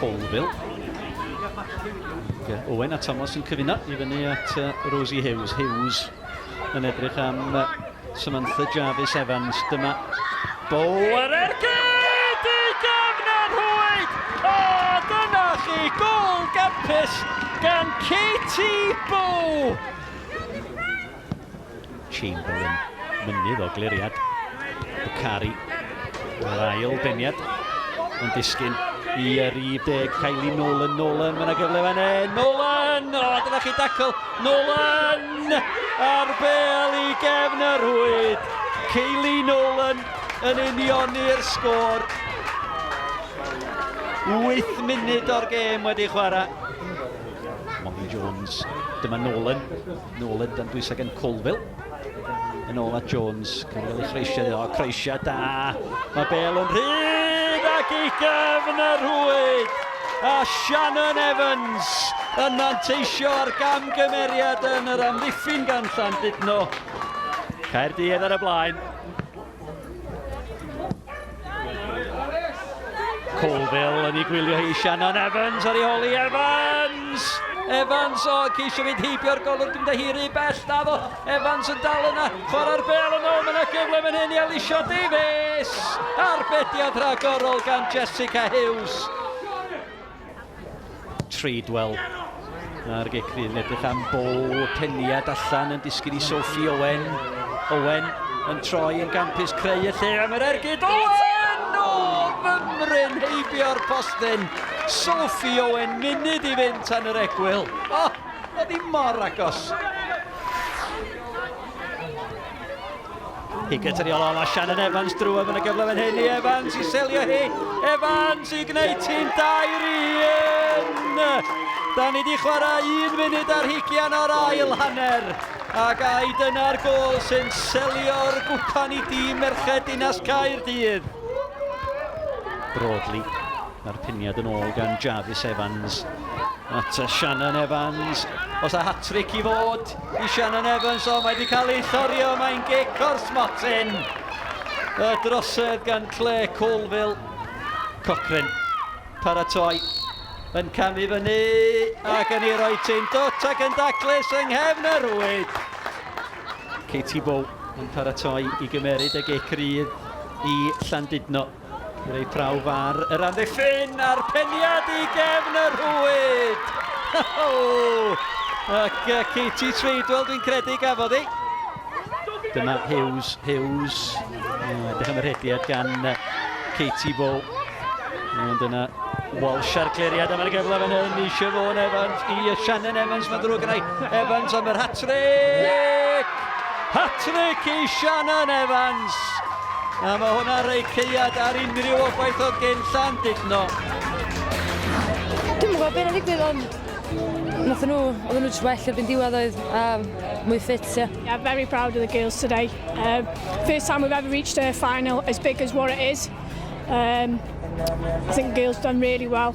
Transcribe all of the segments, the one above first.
Colville. Owen a Thomas yn cyfuno i fyny at uh, Rosie Hughes. Hughes yn edrych am uh, Samantha Jarvis Evans. Dyma bol ar ergyd i gefner hwyd. O, dyna chi gol gapus gan Katie Bow. Chamberlain, mynydd o gliriad. Bukhari, yr ail deniad, yn disgyn i yr 10, Kylie Nolan, Nolan, mae'n gyfle fan hyn, Nolan! O, dyna chi dacl, Nolan! Ar bel i gefn yr hwyd, Kylie Nolan yn unioni'r sgôr. 8 munud o'r gêm wedi chwarae. Molly Jones, dyma Nolan, Nôl yn dan bwysau gan Colville. Yn ôl at Jones. Colville i Croesia iddo. Croesia da. Mae Bale yn rhydd ac i gefn y rhwyd. A Shannon Evans yn manteisio ar gamgymeriad yn yr amddiffyn gan Llandudno. Caerdydd ar y blaen. Colville yn ei gwylio hi Shannon Evans ar ei holi Evans! Evans o ceisio mynd heibio'r golwr dwi'n dehiri bell da fo Evans yn dal yna chwarae'r bel yn ôl mae yna gyfle fan hyn i Alicia Davies arbediad rhagorol gan Jessica Hughes Treadwell. Mae Regecri yn edrych am bo teniad allan yn disgyn i Sophie Owen. Owen yn troi yn gampus creu y lle am yr ergyd. Owen! O, fymryn heibio'r postyn. Sophie Owen, munud i fynd tan yr egwyl. O, oedd hi mor agos. I gytrio lol a Shannon Evans drwaf yn y gyfle fan hyn i Evans i selio hi. Evans i gwneud ti'n dair i un. Da ni wedi chwarae un munud ar hugian o'r ail hanner. Ac ai dyna'r gol sy'n selio'r gwpan i dîm merched Dinas Caerdydd? Broadly, mae'r piniad yn ôl gan Jarvis Evans at Shannon Evans. Os a hat-trick i fod, i Shannon Evans, ond mae wedi cael ei llorio, mae'n gic o'r smotyn. Y drosedd gan Claire Colville. Cochran paratoi yn camu fyny ac yn ei roi ti'n dwt ac yn daclus yng nghefn y rwyd. Katie Bow yn paratoi i gymeryd y gic rydd i Llandudno. Yn ei prawf ar yr amddiffyn a'r peniad i gefn y rhwyd! Ac uh, Katie Treadwell dwi'n credu gafodd ei. Dyma Hughes, Hughes, edrych am y rhediad gan Katie Bo. Ond yna Walsh ar gleriad am yr gyfle fan hyn i Siobhan Evans, i Shannon Evans, mae'n ddrwg yna Evans am yr hat-trick! Hat-tric i Shannon Evans! A mae hwnna'n rhoi ceiad ar unrhyw obaith oedd gen Llandudno. Dwi'n gwybod beth yn digwydd ond Nath nhw, oedden nhw jyst well erbyn diwedd oedd, a mwy ffit, ie. Yeah, very proud of the girls today. Uh, first time we've ever reached a final as big as what it is. Um, I think the girls done really well.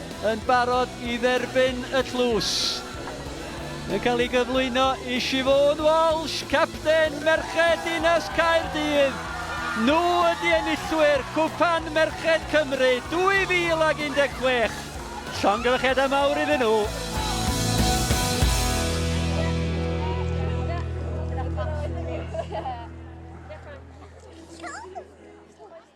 yn barod i dderbyn y tlws. Yn cael ei gyflwyno i Siobhan Walsh, capten merched Dinas Caerdydd. Nhw ydy enillwyr Cwpan Merched Cymru 2016. Llongyfarchiadau mawr iddyn nhw.